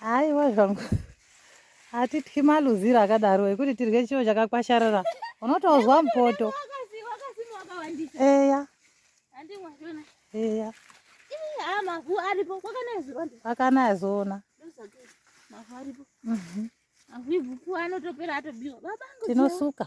haiwa zvangu hatityi maluziro akadaro ekuti tirye chiro chakakwasharara unotozwa mupoto eya eya akanaya zoona mhm. tinosuka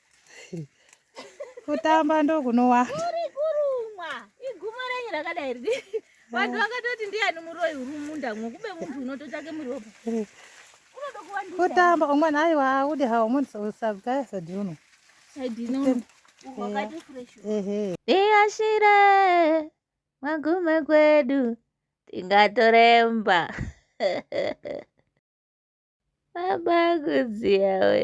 kutamba ndokunowanda uri kurumwa igumo renyu rakadai riri vanhu vakatoti ndiyani muroyi uri mumunda mwo kube munhu unototsvake muropa kutamba umwana aiwa audi hawo munhu usagaya sadhuno tiyashire magume kwedu tingatoremba Baba kudziyawe.